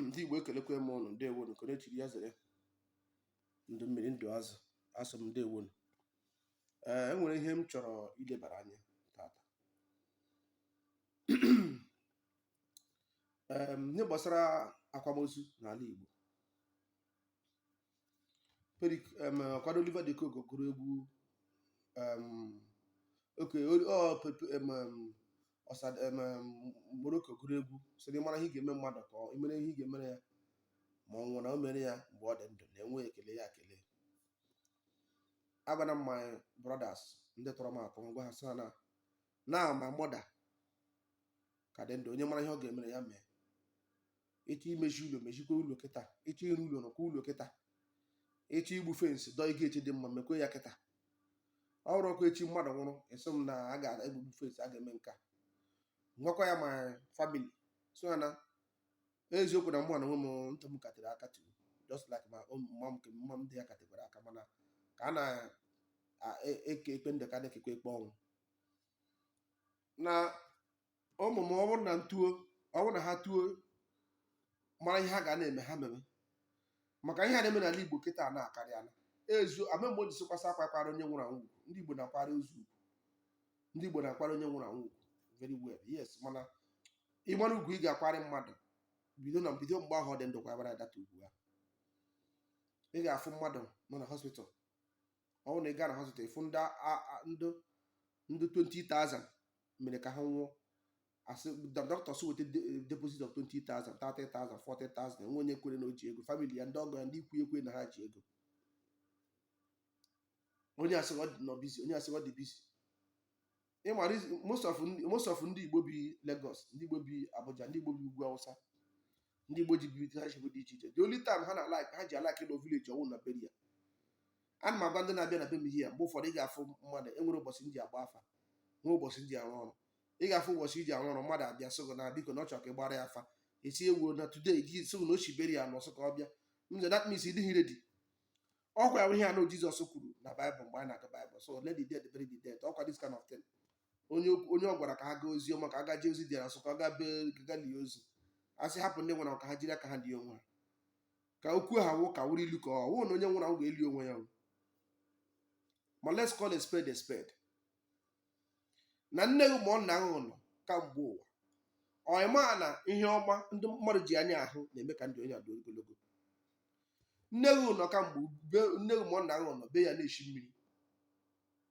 ndị Igbo ekelekwe m ụnụ ndewonu nke onye chiri ya zere ndụ mmiri ndụ azụ asị m ndewonu ee enwere ihe m chọrọ ilebara anya tata ee ihe gbasara akwamozu n'ala Igbo Perik em, ọkwado Oliver de Coque gụrụ egwu em, oke o- ọ pepe em, em, Osad- em, em, Morocco gụrụ egwu sị na ị mara ihe ị ga-eme mmadụ ka ọ- ị mere ihe ị ga-emere ya ma ọ nwụrụ na o mere ya mgbe ọ dị ndụ na enwe ekele ya ekele agwana m my brothers ndị tọrọ m atọ m gwa ha sị ha na na my mother ka dị ndụ onye mara ihe ọ ga-emere ya mee ịchọ imechi ụlọ mechikwa ụlọ kịta ịchọ ịrụ ụlọ rụkwa ụlọ kịta ịchọ igbu fence dọọ gate dị mma mekwe ya kịta ọ bụrọkwa echi mmadụ nwụrụ ị sị m na a ga-egbugbu fence a ga-eme nka m gwakwa ya my family so ya na eziokwu na mụ na onwe m ntị m katịrị aka tiri just like mama m nke mma m dị ya katịkwara aka mana ka a na-eke ekpe ndụ ka a na-ekekwe ekpe ọnwụ na ụmụ m ọ bụrụ na ntuo ọ bụrụ na ha tuo mara ihe ha ga na-eme ha mebe maka ihe a na-eme n'ala Igbo kịta a na-akarịala ezu ama mgbe o ji sịkwasị akwa akwara onye nwụrụ anwụ ugwu ndị Igbo na-akwara ozu ugwu ndị Igbo na-akwara onye nwụrụ anwụ ugwu very well yes mana ị mara ugwu ị ga-akwara mmadụ bido na bido mgbe ahụ ọ dị ndụ kwabara that ugwu ahụ ị ga-afụ mmadụ nọ na hospital ọ bụrụ na ị gaa na hospital ị fụ ndị a- a- ndị ndị 20,000 mere ka ha nwụọ a sị dọkịta sị weta deposit of 20,000 30,000 40,000 enwe onye kwere na o ji ego family ya ndị ọgọ ya ndị ikwu ekwe na ha ji ego onye asị ọ dị nọ busy onye asị ọ dị busy ị ma reason- most of ndị- most of ndị igbo bi Lagos ndị igbo bi Abuja ndị igbo bi ugwu Awụsa ndị Igbo ji bibite ha chebe dị iche iche the only time ha na-alike ha ji alike ịnọ village ọ wụ na burial ana m agwa ndị na-abịa na be m ihe a mgbe ụfọdụ ị ga-afụ mmadụ enwere ụbọchị m ji agba afa nwee ụbọchị m ji arụ ọrụ ị ga-afụ ụbọchị i ji arụ ọrụ mmadụ abịa sị gị na biko na ọ chọrọ ka ị gbara ya afa esi ewu na today ji sị gị na o si burial n'ọsọ ka ọ bịa m sị that means ị dịghị ready ọkwa ya ihe ahụ Jizọs kwuru na Baịbụl mgbe anyị na-agụ Baịbụl sị let the dead bury the dead ọkwa this kind of thing onye onye ọ gwara ka ha gaa ozi ọma ka ha gaa jee ozi dị asị ka ọ gaa be gaa lie ozu a sị hapụ ndị nwụrụ anwụ ka ha jiri aka ha lie onwe ha ka okwu ahụ wụ ka ọ wụrụ ilu ka ọ wụ na onye nwụrụ anwụ ga-eli onwe ya o. ma let's call a spade a spade na nne gị ma ọ nna gị nọ kamgbe ụwa ị ma na ihe ọma ndị mmadụ ji anya ahụ na-eme ka ndụ onye adị ogologo nne gị nọ kamgbe be- nne gị ma ọ nna gị nọ be ya na-eshi mmiri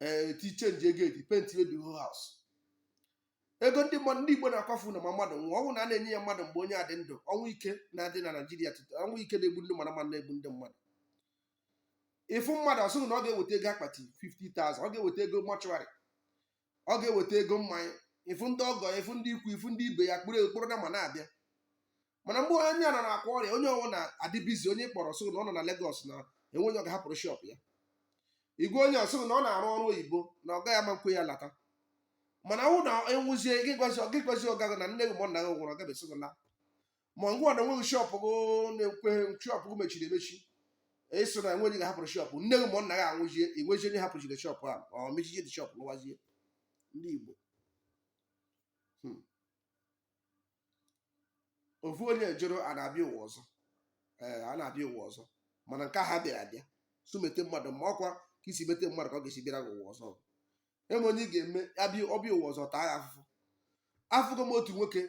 ee ti chenjie geeti pentie the whole house ego ndị mmadụ ndị Igbo na-akwafu na ma mmadụ nwụọ ọ wụ na a na-enye ya mmadụ mgbe onye a dị ndụ ọnwụ ike na-adị na Naịjirịa tutu ọnwụ ike na-egbu ndị mara mmadụ na-egbu ndị mmadụ ị fụ mmadụ ọ sị gị na ọ ga-eweta ego akpati 50,000 ọ ga-eweta ego mọchụarị ọ ga-eweta ego mmanya ị fụ ndị ọgọ ị fụ ndị ikwu ị fụ ndị ibe ya kpụrụ ekpụrụ nama na-abịa mana mgbe onye nọ na-akwa ọrịa onye ọwụna adị bizi onye ị kpọrọ ọ sị na ọ nọ na Legọs na enweghị onye ọ ga-ahapụrụ shọp ya ị gwa onye ọ sị na ọ na-arụ ọrụ oyibo na ọga ya ama nkwe ya lata mana ọ na-anwụzie gị gwazi gị gwazi ọga gị na nne gị ma ọ nna gị nwụrụ ọ gabesi gị lawa ngwa na enweghị shọp gị na-ekweghị shọp gị mechiri emechi ị sị na enweghị ga-ahapụrụ shọp nne gị ma ọ nna gị anwụzie i nwezie onye hapụchiri shọp a ọ mechije the shọp lọwazie ndị Igbo ofu onye jụrụ a na-abịa ụwa ọzọ ee a na-abịa ụwa ọzọ mana nke ha bịara abịa so mete mmadụ mma ọ kwa ka i si mete mmadụ ka ọ ga-esi bịara gị ụwa ọzọ enwe onye ị ga-eme abịa ọ bịa ụwa ọzọ taa gị afụfụ afụgo m otu nwoke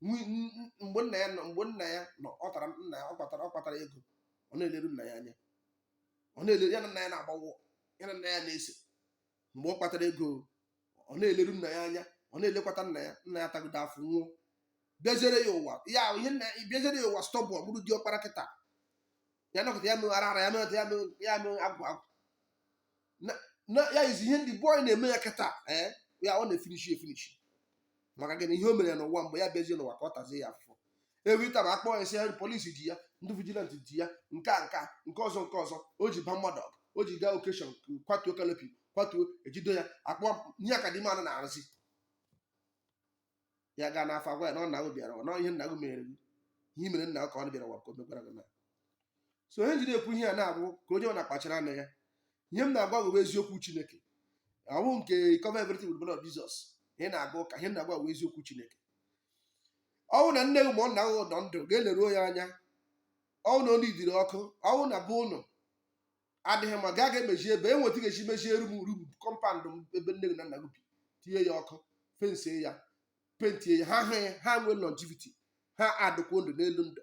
nwi- n- n- mgbe nna ya nọ mgbe nna ya nọ ọ tara nna ya ọ kpatara ọ kpatara ego ọ na-eleru nna ya anya ọ na-eleru ya na nna ya na-agbawo ya na nna ya na-ese mgbe ọ kpatara ego ọ na-eleru nna ya anya ọ na-elekwata nna ya nna ya tagide afụfụ nwụọ bịaziere ya ụwa ya ihe nna ya bịaziere ya ụwa stubborn ọ bụrụ di ọkpara kịta ya nọkata ya mee ara ara ya mee ya mee ya mee agwụ agwụ na na ya izi ihe ndị bọị na-eme ya kịta ee ya ọ na-efinishi efinishi maka gịnị ihe o mere ya n'ụwa mgbe ya bịazie n'ụwa ka ọ tazie ya afụfụ every time a kpọọ ya sị polisi ji ya ndị vigilant ji ya nke a nka nke ọzọ nke ọzọ o ji ba mmadụ ọgụ o ji gaa okeshọn kwatuo kanopi kwatuo e jido ya a kpọọ ya ka the man na-arụzi ya gaa n'afa a gwa ya na ọ nna gị bịara ụwa ihe nna gị mere gị ihe i mere nna gị ka ọ bịara ụwa ka o mekwara gị na so ihe m jiri ekwu ihe a na-abụ ka onye ọwụna kpachara anya ya ihe m na-agwa bụ eziokwu Chineke ọ wụ nke cover everything with blood of Jesus ị na-aga ụka ihe m na-agwa bụ eziokwu Chineke ọ wụ na nne gị ma ọ nna gị nọ ndụ gaa leruo ya anya ọ wụ na ọ niidịrị ọkụ ọ wụ na be ụnụ adịghị mma gaa ga emeji ebe enweta ga-eji mejie rum rum kọmpand m ebe nne gị na nna gị bi tinye ya ọkụ fensie ya pentie ya ha hụ ya ha nwee longevity ha adịkwuo ndụ n'elu ndụ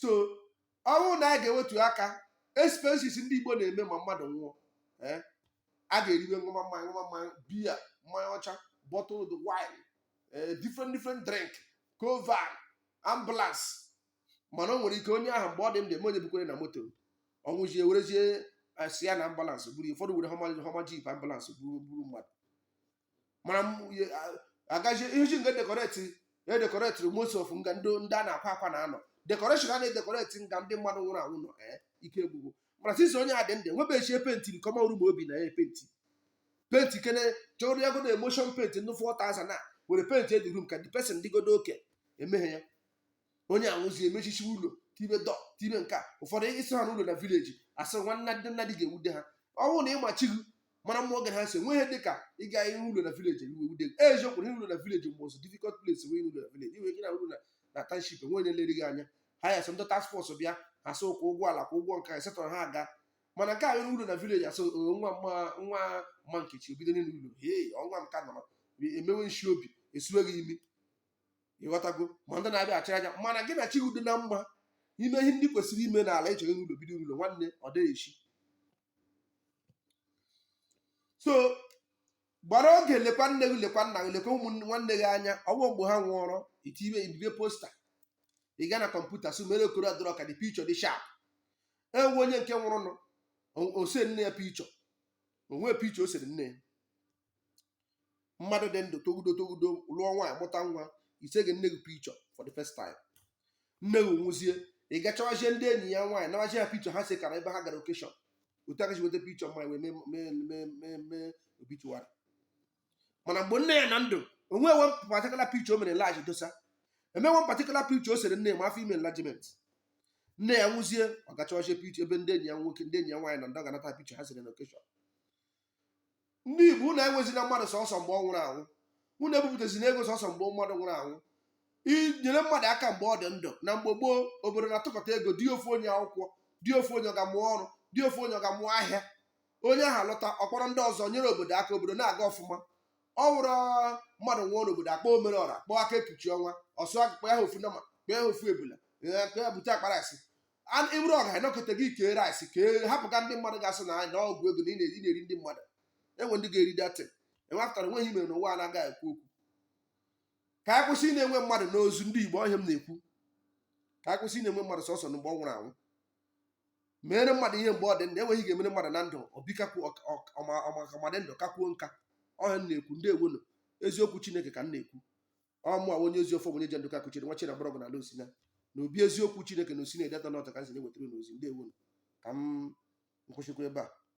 so ọ wụ na anyị ga-ewetu aka expenses ndị Igbo na-eme ma mmadụ nwụọ eh, a ga-eriwe ṅụwa mmanya ṅụwa mmanya biya mmanya ọcha bottled wine eh, different different drink covan ambulance mana o nwere ike onye ahụ mgbe ọ dị ndụ enwe onye bukwara na moto ọ nwụzie werezie eh, si ya na ambulance buru ya. ụfọdụ were Hummer Hummer jeep ambulance buru buru mmadụ mara agaghị ihe ji nga dekoreti ya dekoretịrị most of nga ndị ndị a na-akwa akwa na anọ dekoreshọn a na-edekoreti nga ndị mmadụ nwụrụ anwụ nọ ee ike gwụgwụ mana since onye a dị ndụ enwebeghị ike penti common room o bi na ya penti penti kene chọrọ ya godo emulsion penti ndị fọ tazan e were pentie di rum ka the person dịgodo oke emeghị ya onye a nwụzie emechichi ụlọ tibe dọ tibe nke a ụfọdụ ị sị ha n'ụlọ na vileji asị nwanna dị nna dị ga-ewude ha ọ bụrụ na ị ma chi gị mara mmụọ gị ha si enweghị ihe dị ka ịga ihe ụlọ na vileji iwe wude gị eziokwu na ụlọ na vileji most difficult place wee ụlọ na vileji i nwe ike na ụlọ na na township enwe onye lere gị anya ha ya sọ ndị task force bịa ha sị ịkwụ ụgwọ ala kwụọ ụgwọ nke a setọrọ ha aga mana nke a nwere ụlọ na vileji asị "Ee, nwa mma nwa mma nkechi o bido n'ịrụ ụlọ hei ọnwa m ka nọrọ emewe nshi obi esuwe gị imi ịghọtago ma ndị na-abịa achụ aja mana gị na chi gị dị na mma i mee ihe ndị kwesịrị ime n'ala ị chọrọ ịrụ ụlọ bido ụlọ nwanne ọ dịghị echi so gbara oge lekwa nne gị lekwa nna gị lekwa ụmụ nwanne gị anya ọ wụghị mgbe ha nwụọrọ i tibe ibibe posta ị gaa na kọmputa so mere Corel Draw ka the pichọ dị shap enwe onye nke nwụrụnụ o se nne ya pichọ o nwe pichọ o sere nne ya mmadụ dị ndụ togudo togudo lụọ nwaanyị mụta nwa i seghị nne gị pichọ for the first time nne gị nwụzie ị gaa chọwazie ndị enyi ya nwaanyị nawazie ya pichọ ha sekọrọ ebe ha gara okeshọn otu a ka e si weta pichọ mama ya wee mee- mee mee mee mee obituary mana mgbe nne ya nọ ndụ o nwe enwe patikula pichọ o mere large dosa enwe patikula pichọ o sere nne ya ma afọ ime enlargement nne ya nwụzie ọ gaa chọwazie pichọ ebe ndị enyi ya nwoke ndị enyi ya nwaanyị na ndị ọ ga-anata pichọ ha sere na okeshọn ndị igbo unu enwezina mmadụ sọsọ mgbe ọ nwụrụ anwụ unu ebupụtazina ego sọsọ mgbe mmadụ nwụrụ anwụ nyere mmadụ aka mgbe ọ dị ndụ na mgbe gboo obodo na-atụkọta ego dị ofu onye akwụkwọ dị ofu onye ọ gaa mụọ ọrụ dị ofu onye ọ gaa mụọ ahịa onye ahụ alọta ọ kpọrọ ndị ọzọ nyere obodo aka obodo na-aga ọfụma ọ wụrụ mmadụ nwụọ n'obodo a kpọọ omere ọra kpọọ aka ekpuchi ọnwa ọ sị akpụkpọ ya ha ofu nama kpọọ ya ha ofu ebula kpọọ ya bute akpa rice ị bụrụ ọga nọkata gị kee rice kee hapụ nga ndị mmadụ ga-asị na na ọgwụ ego na ị na-eri ndị mmadụ enwe ndị ga-eri that thing i wepụtara nweghị ihe e mere n'ụwa a na-agaghị ekwu okwu ka anyị kwụsị ịna-enwe mmadụ n'ozu ndị Igbo ọ ihe m na-ekwu ka anyị kwụsị ịna-enwe mmadụ sọsọ mgbe ọ nwụrụ anwụ meere mmadụ ihe mgbe ọ dị ndụ e nwee ihe ị ga-emere mmadụ na ndụ o bikakwu ọ ma dị ndụ kakwuo nka ọ ihe m na-ekwu ndewonu eziokwu Chineke ka m na-ekwu ọ mụa wụ onye ezi ọfọ wụ onye ji Ndụka kuchiri nwa chira mgbọrọgwụ n'ala Osina na obi eziokwu chineke na Osina Ideato North ka m si na-ewetara unu ozi ndewonu ka m kwụsịkwa ebe a